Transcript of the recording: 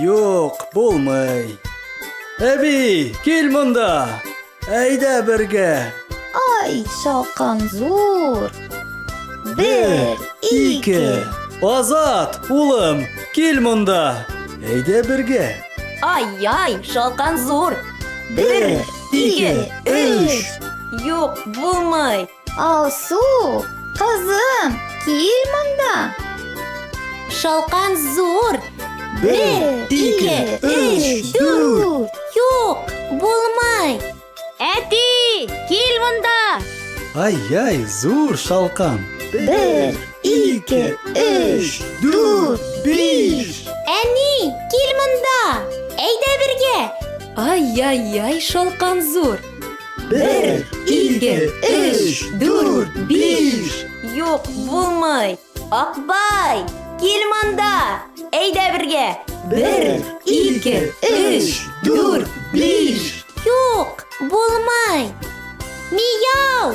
Юк, булмый. Әби, кил монда. Әйдә бергә. Ай, шалкан зур. Бер, ике. Азат, улым, кил монда. Әйдә бергә. Ай-яй, шалкан зур. Бер, ике, өч. Юк, булмый. Алсу, кызым, кил монда. Шалкан зур. Бер, ике, өч, дүрт. Юк, булмай. Әти, кил монда. Ай-яй, зур шалкан. Бер, ике, өч, дүрт, биш. Әни, кил монда. Әйдә бергә. Ай-яй-яй, шалкан зур. Бер, ике, өч, дүрт, биш. Юк, булмый. Акбай, кил монда. Әйдә бергә. Бер, ике, өч, дүрт, биш. Юк, булмый. Мияу,